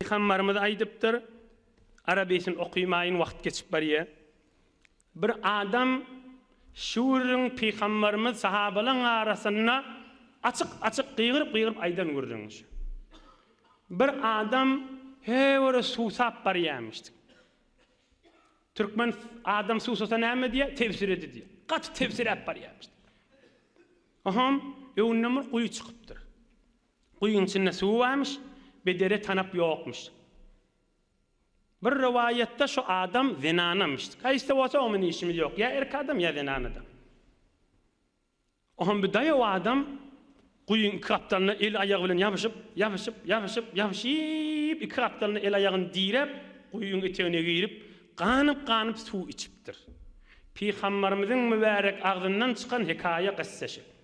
Pygambarymyz aýdypdyr, Arabesini okymaýyň wagt geçip barýar. Bir adam şüwrüň pygambarymyz sahabalaň arasynda açyk açyk gygyryp gygyryp aýdan gürrüň şu. Bir adam höwere suwsap barýamyş. Türkmen adam suwsasa näme diýär, tebsiredi diýär. Gaty tebsiräp barýamyş. Ohom öňünden bir guýy çykypdyr. Guýyň içinde suwy barmyş, bedere tanap ýokmuş. Bir rowaýatda şu adam zenanamyş. Haýsy-da bolsa oňa bilen işimiz ýok. Ýa erkek adam, ýa zenan adam. Oňam bir daýaw adam guýyň iki gapdalyna el-aýagy bilen ýapyşyp, ýapyşyp, ýapyşyp, ýapyşyp, iki gapdalyna el-aýagyny diräp, guýyň etegine girip, ganyp-ganyp suw içipdir. Pygamberimiziň mübärek agzyndan çykan hekaýa-gyssa şu.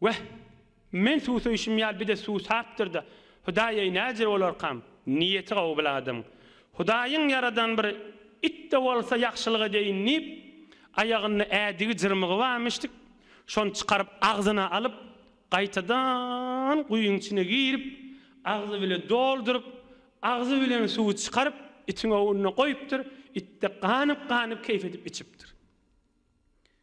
Weh, men suwsaýşym ýaly bir-de suwsapdyr-da, Hudaý-eý, näce bolarkam? Niýeti gowy bir adamyň. Hudaýyň ýaradan bir it-de bolsa ýagşylyk edeýin diýip, aýagynda ädigi jyrmygy barmyşdyk, şony çykaryp agzyna alyp, gaýtadan guýyň içine girip, agzy bile dolduryp, agzy bilen suwy çykaryp, itiň ownuna goýupdyr, it-de ganyp-ganyp keýp edip içipdir.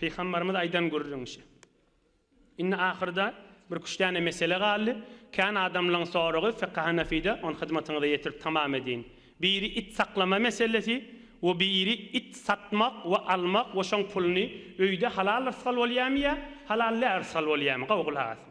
Pygambarymyz aýdan gürrüň şi. Indi ahyrda bir üç däne mesele galdy. Kän adamlaň soragy Fykhy Hanafide ony hyzmatyňyza ýetirip tamam edýin. Biri it saklama meselesi we biri it satmak we almak we şoň puluny öýde halal rysgal bolýamy ýa halal lä rysgal bolýamy? Gowy gulak asyň.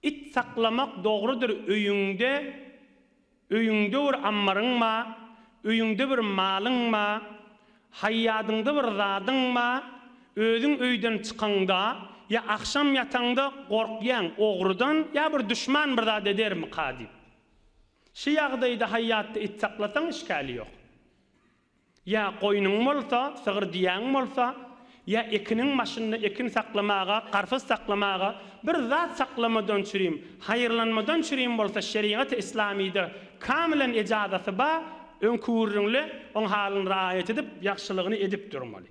It saklamak dogrudyr öýüňde Öýüňde bir ammaryň ba Öýüňde bir malyň ba Haýýadyňda bir zadyň ba Özüň öýden çykaňda ýa agşam ýataňda gorkýaň ogrudan ýa bir duşman bir zat edermika diýip. Şu ýagdaýda haýýatda it saklasaň işgäli ýok. Ýa goýnuň bolsa, sygyr düýäň bolsa, ýa ekiniň başynda ekin saklamaga, garpyz saklamaga, bir zat saklamadan çürim, haýyrlanmadan çürim bolsa şerigaty islamyda kamilen ejazaty ba, öňküwürriňli oň halyny raýat edip, ýagşylygyny edip durmaly.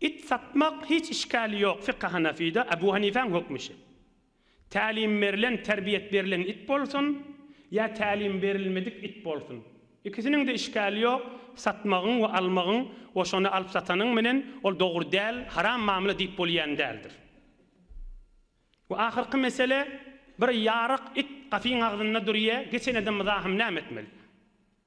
It satmak hiç işgäli ýok Fika Hanafida Abu Hanifäň hökmi şe. Tälim berlen, terbiýet berlen it bolsun, ýa tälim berilmedik it bolsun, ikisiniňde işgäli ýok, satmagyň we almagyň we şony alyp satanyň menen ol dogry däl, haram mamla diýip bolýan däldir. We ahyrky mesele, bir ýaryk it gapyň agzynda durýa, geçen edem mzahym näme etmeli?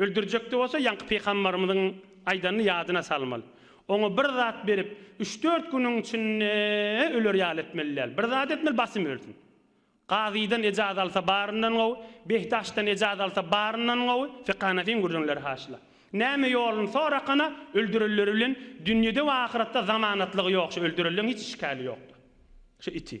Öldürjekde bolsa ýaňky pygambarymyzyň aýdanyny ýadyna salmaly. Oňa bir zat berip, üç-dört günüň içinde öler ýaly etmeli däl. Bir zat etmeli, basym ölsün. Gazydan ejaz alsa baryndan gowy, Behdaşdan ejaz alsa baryndan gowy, Fekanafiň gürrüňleri haşyla. Näme ýoluny sorakana, öldürenleri bilen dünýede we ahyratda zamanatlygy ýok, şu öldürenleň hiç işgäli ýokdur. Şu iti.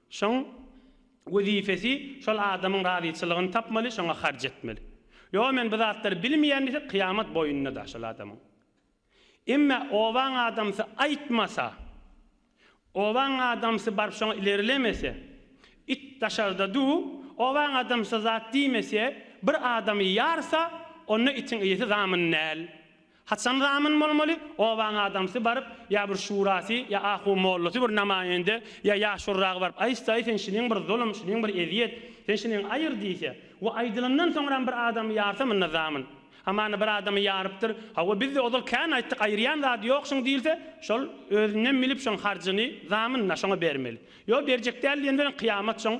Şoň wezipesi şol adamyň razyçylygyny tapmaly, şoňa harç etmeli. Ýok, men bu zatlary bilmeýän diýse, kyýamat boýnunda-da şol adamyň. Emme obaň adamsy aýtmasa, obaň adamsy baryp şoňa ilerlemese, it daşarda dur, obaň adamsy zat diýmese, bir adamy ýarsa, onda itiň eýesi zamun däl. Haçan zamun bolmaly? Obaň adamsy baryp, ýa bir şurasy, ýa ahu mollasy bir namaýende, ýa ýaşulragy baryp aýtsa-aý sen şiniň bir zulum, şiniň bir ezýet, sen şiniň aýyr diýse we aýdylandan soňram bir adamy ýarsa munda zamun. Ha mana bir adamy ýarypdyr, hawa biz-de ozal kän aýtdyk aýyrýan zady ýok şuň diýilse, şol özünden bilip şoň harjyny, zamun-a, şoňa bermeli. Ýok berjek däl diýen bilen kyýamat şoň.